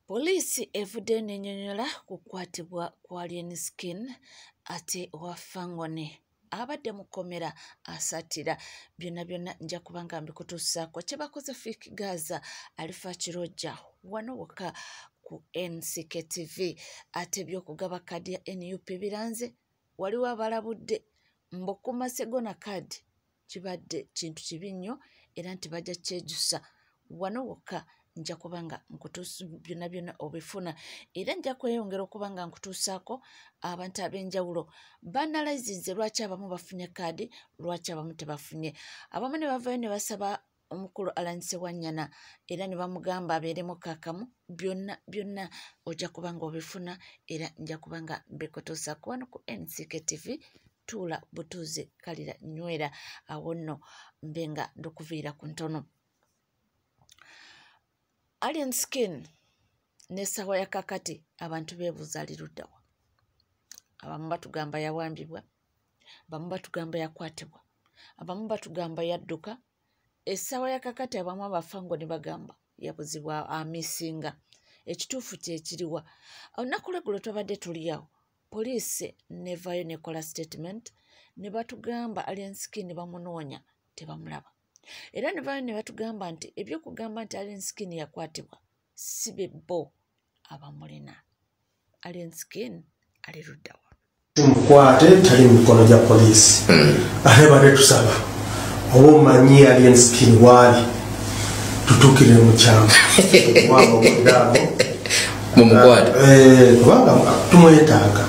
Poliisi evudde nenyonyola ku kukwatibwa kwa Lienskin ate owa Fangone abadde mu kkomera asatira byonna byonna nja kuba nga mbikutuusaako kye bakoze fik gaza alifa kirojja wano wokka ku ncktv ate ebyokugaba kadi ya nup biranze waliwo abalabudde mbokuma segona card kibadde kintu kibi nnyo era nti bajja kyejusa wano wokka nja kuba nga nkutuusa byonna byonna obifuna era nja kweyongera okuba nga nkutuusaako abantu ab'enjawulo banalayizinze lwaki abamu bafunye kaadi lwaki abamu tebafunye abamu ne bavayo ne basaba omukulu alanyise wanyana era ne bamugamba abeeremu kakamu byonna byonna ojja kuba nga obifuna era nja kuba nga mbikutuusa kuwano ku nck tv tuula butuuzi kalira nywera awo nno mbe nga ndukuviira ku ntono alien skin nesawa yakakati abantu bebuuza liruddawa abamu batugamba yawambibwa abamu batugamba yakwatibwa abamu batugamba yadduka essaawa yakakati abamu abafa ngo ne bagamba yabuzibwa amisinga ekituufu kyekiriwa olunaku lweggulo twabadde tuliawo poliisi nevayo nekola statement ne batugamba alenskin bamunoonya tebamulaba era nevayo ne batugamba nti ebyokugamba nti alenskin yakwatibwa si be bo abamulina ali enskin ali luddawa mukwate tali mu mikono gya poliisi hmm. ate bade tusaba oba omanyi ali enskin waali tutukire mukyamu mumukwate eh, kubanga tumwetaaga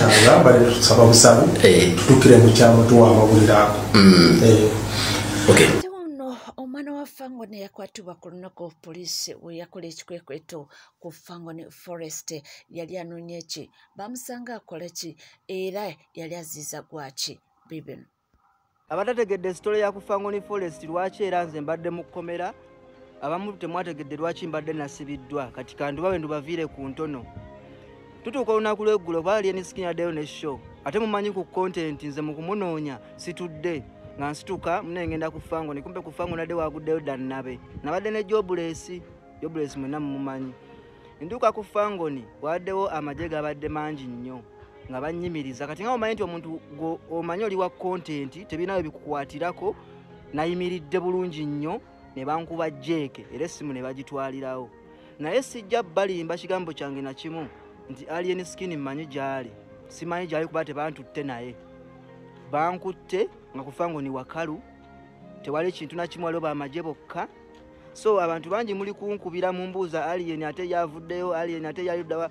agamba tusaba busabu eh. tutukire mu kyama tuwa amawulire ago mm. eh. kituba ku lunaku poliisi we yakola ekikwekweto ku fangoni forest yali anoonya eki bamusanga akola ki era yali aziiza gwaki bibino abatategedde sitole ya ku fangoni forest lwaki era nze mbadde mu kkomera abamu temwategedde lwaki mbadde nasibiddwa kati kandubawe ndubaviire ku ntono tutuuka olunaku lweggulo kuba ali eniskin addeyo ne show ate mumanyi ku content nze mukumunoonya situdde nga nsituka mune ngenda ku fango nikumpe ku fango nadde waguddeyo dannabe nabadde ne jobulesi jobulesi mwena mumumanyi nduuka ku fangoni waddewo amagye gabadde mangi nnyo nga bannyimiriza kati nga omanyi nti omuntu omanyi oli wa content tebinawe bikukwatirako nayimiridde bulungi nnyo ne bankuba jeeke era essimu ne bagitwalirawo naye sijja balimba kigambo kyange na kimu nti alien skin mmanyi gy'ali simanyi gy'ali kuba tebantutte naye bankutte nga kufa ngo ni wakalu tewali kintu na kimu waliwo bamagye bokka so abantu bangi muli kunkubira mu mbuuza alien ate yavuddeyo alien ate yaliddawa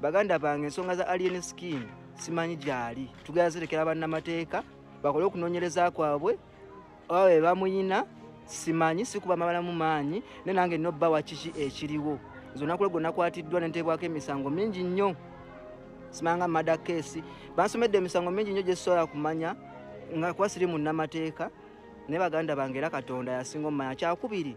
baganda bange ensonga za alien skin simanyi gyali tugera zirekera bannamateeka bakole okunoonyereza kwabwe oba be bamuyina simanyi sikuba mabalamu maanyi naye nange nina obba wakiki ekiriwo nze olunaku lwe gwe nakwatiddwa nenteebwako emisango mingi nnyo simanga mada keesi bansomedde emisango mingi nnyo gyesobola kumanya nga kuba siri munnamateeka naye baganda bange era katonda yasinga omumanya kyakubiri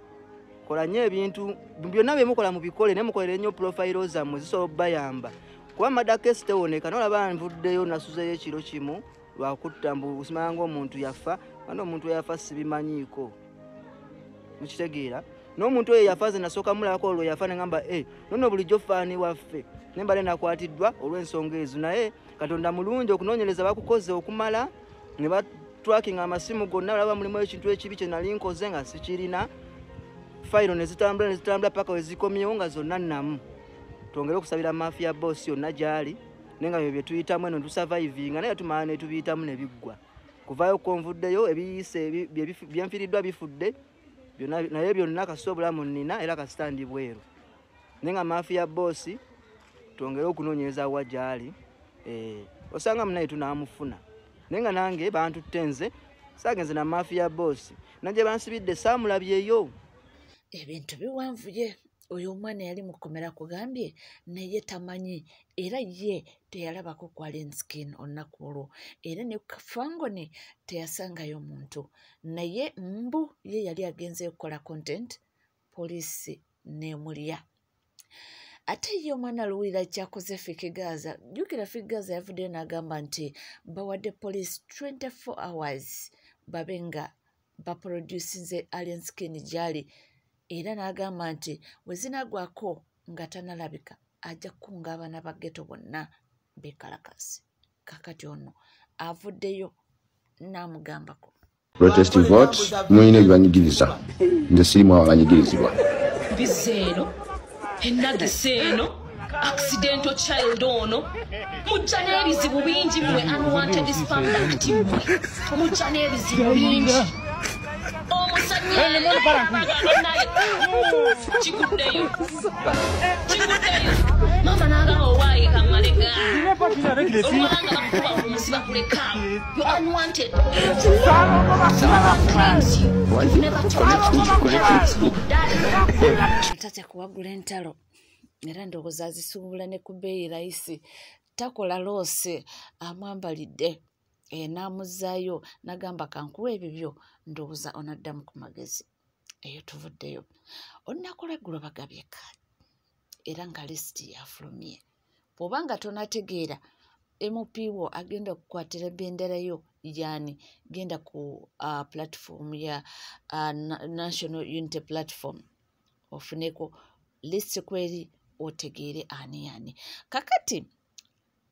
kola nnyo ebintu byonna byemukola mubikole naye mukolere nnyo pulofayiro zammwe zisobola obubayamba kuba mada keesi tewoneka nolaba nvuddeyo nasuzeyo ekiro kimu lwakutta mbu simanya ngaomuntu yafa ana omuntu eyafa sibimanyiiko mukitegeera n'omuntu oyo yafa ze nasooka mulabako olwo yafa negamba e eh, nono bulijjo faani waffe ne mbale nakwatiddwa olw'ensonga ezo naye katonda mulungi okunoonyereza bakukoze okumala ne batwakinga amasimu gonna balaba mulimu ekintu ekibi kye nali nkoze nga sikirina fayiro ne zitambula ne zitambula paka we zikomyewo nga zonna nnamu twongere okusabira maafiya boosi yonna gy'ali naye nga byo bye tuyitamu eno tusavayivinga naye tumala ne tubiyitamu ne biggwa kuvaayo kuko nvuddeyo ebiyise byenfiriddwa bifudde naye byonna kasita obulamu nnina era kasita ndi bweru naye nga maafi ya boosi twongere okunoonyereza wa gyali eh, osanga munaye tunaamufuna naye nga nange bantutte nze saagenze na maafi ya boosi nagye bansibidde saamulabyeyo ebintu biwanvuye oyo omwana yali mukomera kugambye naye tamanyi era ye teyalabako kwalinskin olunaku olwo era ne fangone teyasangayo muntu naye mbu ye yali agenze okukola content poliisi nemulya ate ye omwana luwulira kyakoze fikigaza jukira fikigaza yavuddeyo n'agamba nti bawadde poliisi 24 hours babe nga baprodusinze alien skin gyali era n'agamba nti we zinagwako nga tanalabika ajja kukunga abaana ba geto bonna bekalakasi kakati ono avuddeyo n'amugambako protest vote mulina ebibanyigiriza nze sirimu abanyigirizibwa enagisa eno accidental child ono mujja n'ebizibu bingi mwe unwanted spam act mwe mujja n'ebizibu bingi kiguddeyo kiguddeyo mama n'agamba owaaye kamalega olwanga bakuba omusiba kulekaamu You're unwanted. Tate kuwagula entalo era ndowooza azisuubula ne ku bbeeyi layisi takola loose amwambalidde eh, n'amuzzaayo nagamba kankuwa ebibyo ndowooza onaddamu ku magezi eyo tuvuddeyo olunaku lweggulo bagabye kaadi era nga lisiti yafulumye bwoba nga tonategeera mp wo agenda kukwatira bendera yo yani genda ku uh, platform ya uh, national unity platform ofuneko list kweri otegeere ani yani kakati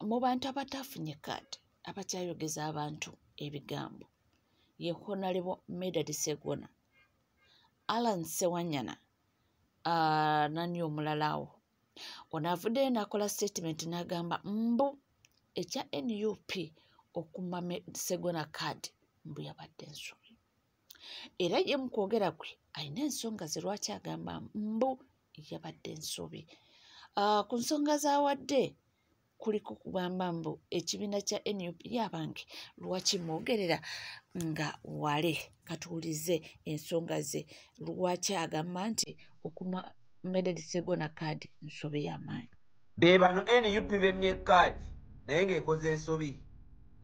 mu bantu abatafunye kaadi abakyayogeza abantu ebigambo ye honalebo medad segona alan sewanyana uh, nani omulalawo ono avuddeyo n'akola statement n'agamba mbu ekya nup okuma segona card mbu yabadde ensobi era ye mu kwogera kwe alina ensonga ze lwaki agamba mbu yabadde ensobi ah, ku nsonga zawadde kuliko kugamba mbu ekibiina kya nup yabange lwaki mwogerera nga wale katuwulize ensonga ze lwaki agamba nti okuma mededisegona kaadi nsobi yamaanyi bebano nup bemye kaadi naye ngaekoze ensobi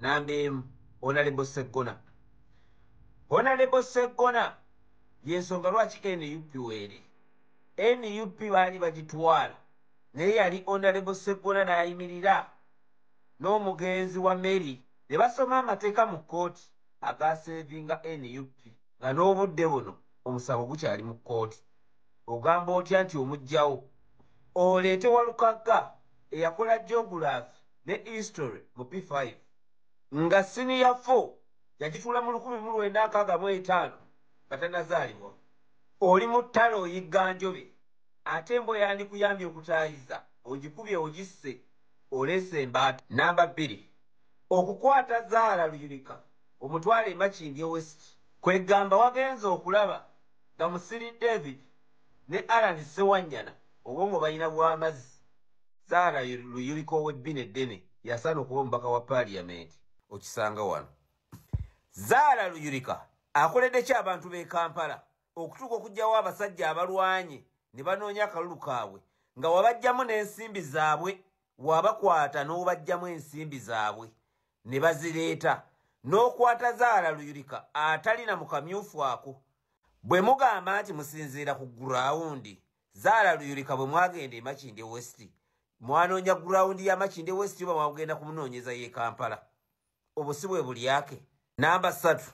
namba emu onalebo segona onalebo segona yensonga lwaki nup were nup baali bagitwala naye yali Onalebo Sseggona n'ayimirira n'omugenzi Wameli ne basoma amateeka mu kkooti agaaseevinga nup nga n'obudde buno omusango gukyali mu kkooti. Ogamba otya nti omuggyawo? Oleete Walukagga eyakola Geography ne History mu P five nga Siniya four yagituula mu lukumi mu lwenda nkaaga mu etaano nga tannazaalibwa. Oli mu ttale oyigga njobe. Ate embwa eyandikuyambye okutaayiza ogikubye ogisse oleese embaata. Nnamba bbiri, okukwata Zahara Luyirika omutwale e Makindye West kweggamba wagenze okulaba nga Musiri David ne Allan Ssewanyana obwongo balina bwa mazzi. Zahara Luyirika ow'ebbina eddene y'asaana okuba omubaka wa Paaliyamenti okisanga wano. Zahara Luyirika akoledde ki abantu b'e Kampala okutuuka okugyawo abasajja abalwanye ne banoonya akalulu kaabwe nga wabajjamu n'ensimbi zaabwe wabakwata n'obajjamu ensimbi zaabwe ne bazireeta n'okwata zaala luyulika atalina mu kamyufu ako bwe mugamba nti musinziira ku gurawundi zaala luyulika bwe mwagenda e makinde westi mwanoonya gurawundi ya makinde westi oba mwagenda kumunoonyeza y'e kampala obusi bwe bulyake namba satu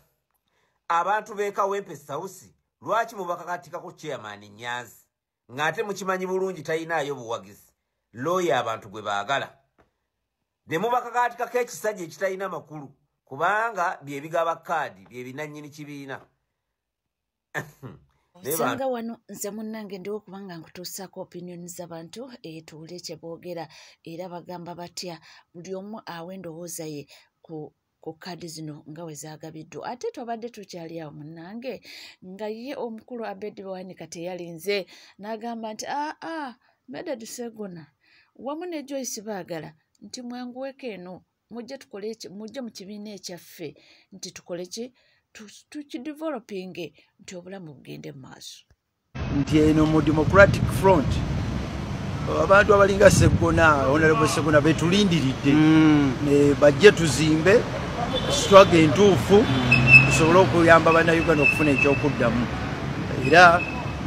abantu bekawempe sausi lwaki mubakakatikako chairman nyanzi ng'ate mukimanyi bulungi talinaayo buwagizi looya abantu gwe baagala ne mubakakaatikako ekisajja ekitalina makulu kubanga bye bigaba kaadi bye binannyini kibiina osanga wano nze munnange ndiwo kubanga nkutuusaako opinion zabantu etuule kye boogera era bagamba batya buli omu awa endowooza ye ku ku kaadi zino nga we zaagabiddwa ate twabadde tukyali awo munnange nga ye omukulu abedi bwanika teyalinze n'agamba nti aa ah, ah, medad segona wamu ne joyce baagala nti mwanguweko eno mujje tukole mujje mu kibiina ekyaffe nti tukole ki tukidevelopinge nti obulamu bugende mu maaso nti eno mu democratic front abantu abalinga segona honorable segona betulindiridde mm. bajje tuzimbe swaga entuufu mm. tusobole okuyamba bannayuganda okufuna ekyokuddamu era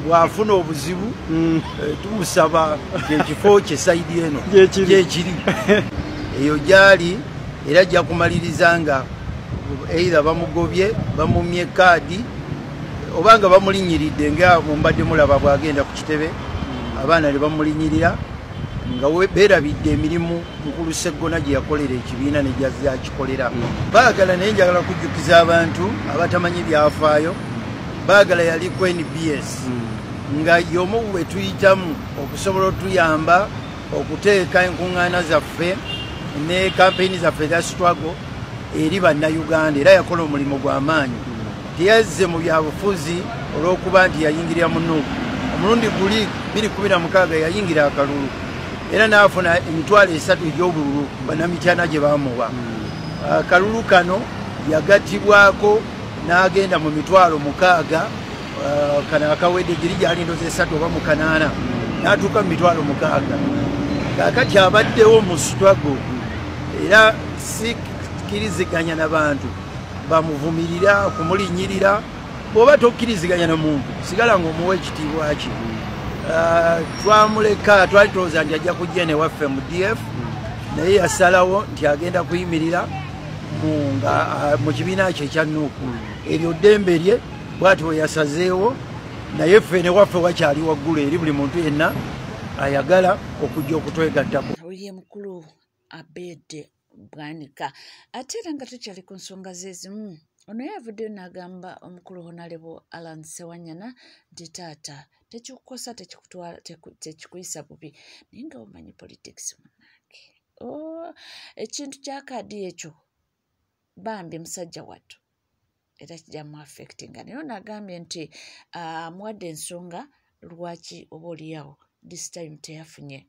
bwafuna obuzibu mm. eh, tumusaba ekifo kye saidi eno gyekiri eyo gyali era ajja kumaliriza nga eira bamugobye bamumye kaadi oba nga bamulinyiridde nga mumbadde mulaba bwagenda ku kitebe mm. abaana ne bamulinyirira nga berabidde emirimu mukulu seggona gye yakolera ekibiina negyakikolera mm. baagala naye njagala kujjukiza abantu abatamanyi byafaayo bagala yali ku nbs hmm. nga yomu wetuyitamu okusobola otuyamba okuteeka enkuŋŋaana zaffe ne kampeyini zaffe eza struggle eri bannayuganda era yakola omulimu gw'amaanyi hmm. teyazze mu byabufuzi olw'okuba nti yayingirira mu nuuku omulundi guli 216 yayingira akalulu era n'afuna emitwalo esatu egy'obululu bannamityana gye bamuwa hmm. akalulu kano yagatibwako n'agenda mu mitwalo mukaaga uh, kana akawedde giri gyali ndoza esatu oba mukanaana n'atuuka mu mitwalo mukaaga kakati abaddewo mu struggle era sikiriziganya na bantu bamuvumirira kumulinyirira bwoba tokkiriziganya na muntu sigala nga omuwa ekitiibwa ki uh, twamuleka twali tulowooza nti ajja kujja newaffe mu df naye yasalawo nti agenda kuyimirira mu kibiina kye ekya nuuku eryo ddembe lye bwati we yasazeewo naye ffe ne waffe wakyali waggulu eri buli muntu yenna ayagala okujja okutwegattako awulire mukulu abeede bwanika ate era nga tukyali ku nsonga zezimu ono yavuddeyo n'agamba omukulu honalebo alan sewanyana nti taata tekikukosa tekikuyisa bubi naye nga omanyi politics munange Oh, ekintu kya kaadi ekyo bambi musajja wattu era kijja mu affectinga naye ono agambye nti ah, amuwadde uh, ensonga lwaki oba oliyawo this time teyafunye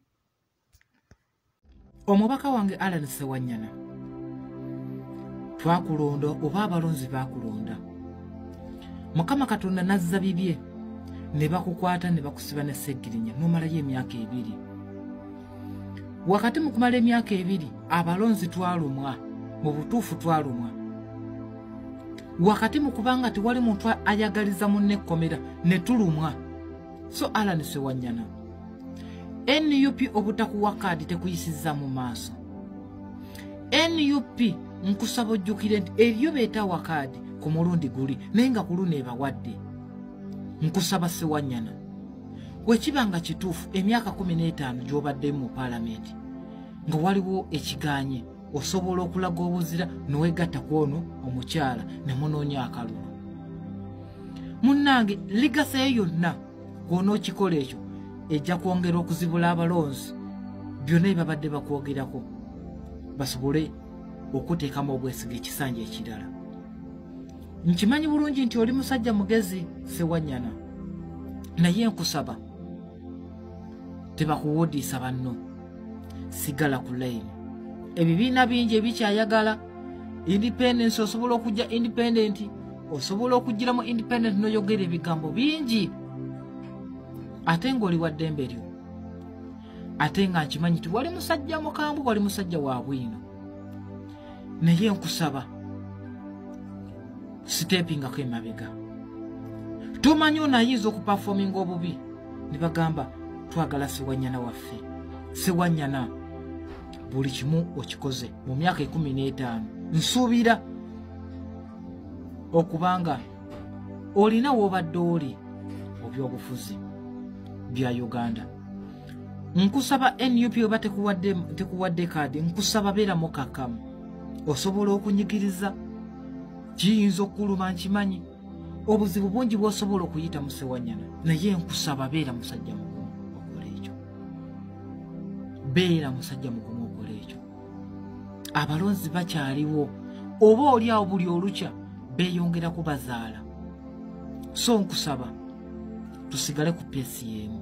omubaka wange alan sewanyana twakulonda oba abalonzi bakulonda mukama katonda nazza bibye ne bakukwata ne bakusiba ne segirinya nomalayo emyaka ebiri wakati mu kumala emyaka ebiri abalonzi twalumwa mu butuufu twalumwa wakati mu kubanga tewali muntu ayagaliza munne ekkomera ne tulumwa so alani sewanyana nup obutakuwa kaadi tekuyisiza mu maaso nup nkusaba ojjukire nti eriyo beetawa kaadi ku mulundi guli naye nga ku luno ebawadde nkusaba sewanyana wekiba nga kituufu emyaka kumi n'etaano gyobadde mu paalamenti nga waliwo ekiganye osobola okulaga obuzira newegatta ku ono omukyala nemunoonya akalulu munnange ligasa ye yonna gwona okikola ekyo ejja kwongera okuzibula abalonzi byonna ebabadde bakwogerako basobole okuteekamu obwesiga ekisanja ekirala nkimanyi bulungi nti oli musajja mugezi sewanyana naye nkusaba tebakuwudiisa banno sigala ku layini ebibiina bingi ebikyayagala independence osobola okujja independent osobola okugiramu independent noyogera ebigambo bingi ate ngaoli wa ddembe lyo ate nga nkimanyi ti wali musajja mukambwe wali musajja wa bwino naye nkusaba sitepingako emabega tomanyi ono ayinza okupafominga obubi ne bagamba twagala sewanyana waffe sewanyana buli kimu okikoze mu myaka ekumi n'etaano nsuubira okubanga olina wobadde oli obyobufuzi bya uganda nkusaba nup oba tekuwadde kaadi nkusaba beera mukakamu osobola okunyigiriza kiyinza okukuluma nkimanyi obuzibu bungi bwosobola okuyita musewanyana naye nkusaba beera musajja mugumu okola ekyo beera musajja mugumu okola ekyo abalonzi bakyaliwo oba oli awo buli olukya beyongera kubazaala so nkusaba tusigale ku pesi yemu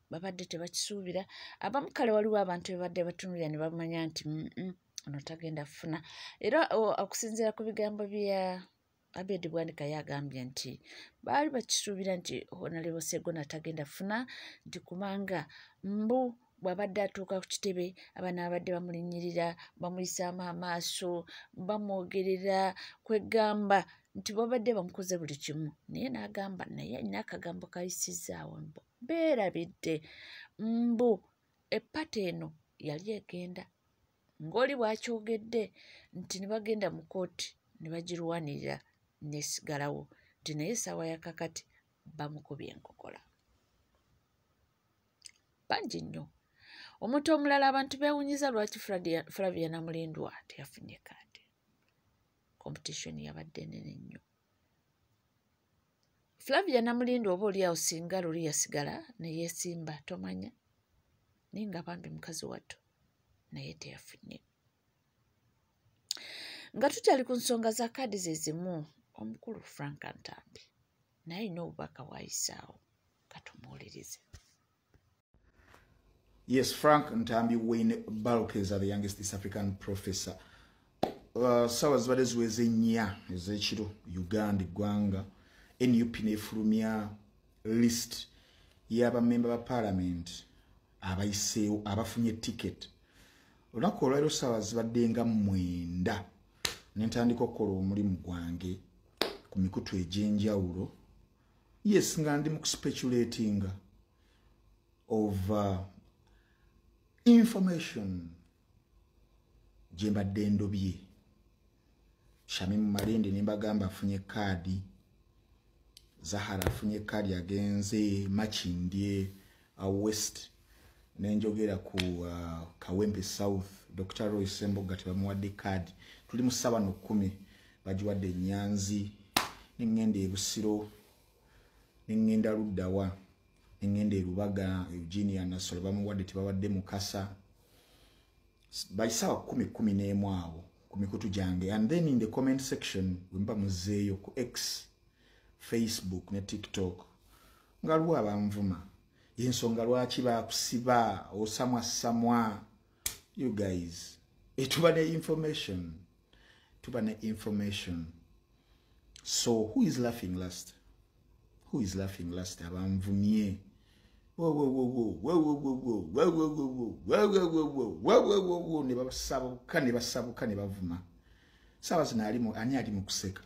babadde tebakisuubira abamu kale waliwo abantu bebadde batunulira ne bamanya nti mm, mm, ono tagenda kufuna era okusinziira ku bigambo bya abedi bwanika yagambye nti baali bakisuubira nti honalebo segona tagenda kufuna nti kubanga mbu bwabadde atuuka ku kitebe abana babadde bamulinyirira bamuyisaamu amaaso bamwogerera kwegamba nti babadde bamukoze buli kimu naye nagamba naye alina akagambo kayisizaawo mbu beerabidde mbu eppata eno yali egenda ng'oli bw'akyogedde nti ne bagenda mu kooti ne bagirwanirira n'esigalawo nti naye essaawa ya kakati bamukubye enkokola bangi nnyo omuntu omulala abantu beewunyiza lwaki flavia namulindwa teyafunye kaadi competition yabadde nene nnyo flavia namulinda oba oliawo singa luli yasigala neyesimba tomanya naye nga bambi mukazi wattu naye teyafunye nga tukyali ku nsonga za kaadi ze zimu omukulu frank ntambi naye alina obubaka wayisaawo katumuwulirize yes frank ntambi wayne balk is the youngest east african professor uh, sawa zibadde ziweza ennya ezekiro uganda eggwanga nup nefulumya list yabamemba ba parliament abayiseewo abafunye ticket olunaku olwaliro sawa zibadde nga mwenda nentandika okukola omulimu gwange ku mikutu egyenjawulo yes nga ndi mu kuspeculetinga of uh, information gye mbadde ndobye shamimu malindi ne mbagamba afunye kaadi zahara afunye kaadi agenze makindye a uh, west nenjogera ku uh, kawempe south dr roy semboga tebamuwadde kaadi tuli mu saba nokumi bagiwadde enyanzi nengenda ebusiro neŋŋenda luddawa neŋŋenda erubaga eugenia nasolo bamuwadde tebabadde mukasa baisaawa kumi kumi n'emu awo ku mikutu gyange and then in the comment section wemba muzeeyo ku x facebook ne tiktok nga lwa banvuma yensonga lwaki bakusiba osamwa samwa you guys eh, tuba ne information tuba ne information so who is laughing last who is laughing last abanvumye nebasabuka nebasabuka nebavuma saawa zino alimu ani ali mukuseka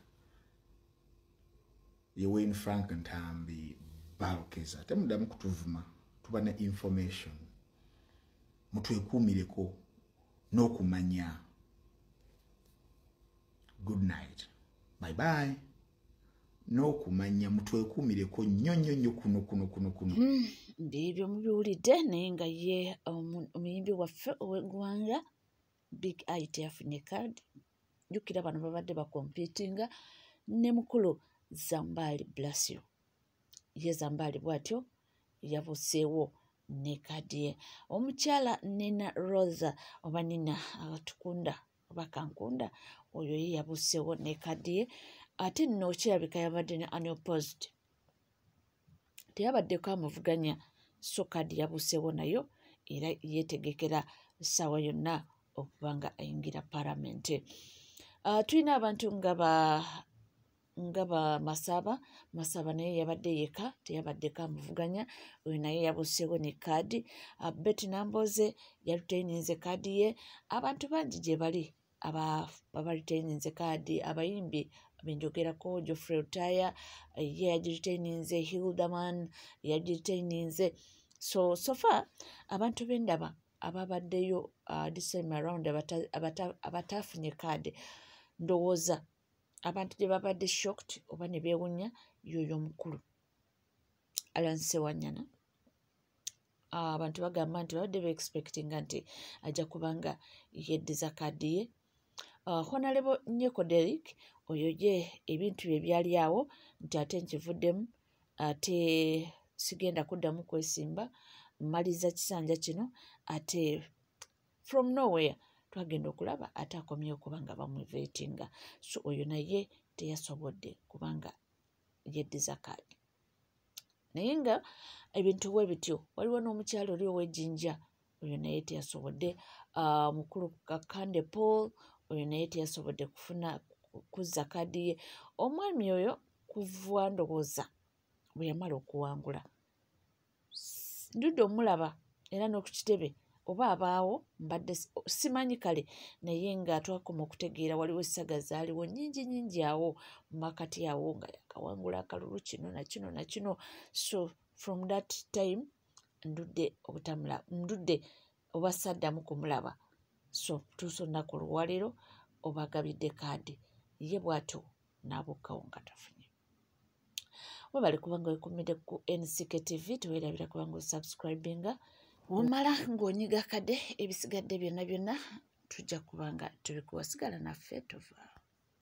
ye wayne frank ntambi balkeza temudamu kutuvuma tuba ne information mutwekuumireko n'okumanya good night bye bye n'okumanya mutwekuumireko nnyo nnyo nnyo kuno kuno kuno kuno hmm, biibyo mubiwulidde naye nga ye um, omuyimbi waffe ow'eggwanga big it afunye card jukira bano babadde bakompitinga ne mukulu zambaali blasio ye zambaali bw'atyo yabuseewo ne kadiye omukyala nina rosa oba nina atukunda oba kankunda oyo ye yabuseewo ne kadiye ate nno kirabika yabadde ne annual post teyabaddeko amuvuganya so kadi yabuseewo nayo era yeetegekera ssaawa yonna okuba nga ayingira palamenti uh, tulina abantu nga ba nga bamasaba masaba naye yabadde yeka teyabaddeko amuvuganya oyo naye yabuseewo ne kaadi ah, beti namboze yalutaininze kaadi ye abantu bangi gye bali abaritaininze kaadi abayimbi benjogerako geoffrey lutaya eh, ye yagiritaininze hilderman yagiritaininze so sofa abantu bendaba ababaddeyo uh, this time around abatafunye kaadi ndowooza abantu gye babadde shocked oba ne beewunya yoyo omukulu alan sewanyana ah, abantu bagamba nti babadde beexpectinga nti ajja kubanga yeddiza kaadi ye ah, honalebo nyeko derik oyo ye ebintu bye byali awo nti ate nkivuddemu ate sigenda kuddamu kwesimba mmaliza kisanja kino ate from nowhere twagenda okulaba ate akomyewo kubanga bamuvetinga so oyo naye teyasobodde kubanga yeddiza kaadi naye nga ebintu bwe bityo waliwo n'omukyalo oli ow'ejinja oyo naye teyasobodde ah, mukulu kakande paul oyo naye teyasobodde kufuna kuzza kaadi ye omwami oyo kuva ndowooza bwe yamala okuwangula ndudde omulaba era n'oku kitebe oba abaawo mbadde simanyi kale naye nga twakoma okutegeera waliwo essaga zaaliwo nyingi nyingi awo mumakati awo nga yakawangula akalulu kino nakino nakino so from that time ndudde obutamula ndudde oba saddamu kumulaba so tuusa olunaku oluwaliro obagabidde kaadi ye bwatyo n'abukkawo nga tafunye webale kubanga wekumide ku nck tv tewerabira kubanga osubscribinga womala ng'onyiga kade ebisigadde byonna byonna tujja kubanga tubikuwa sigala naffe tuvaawo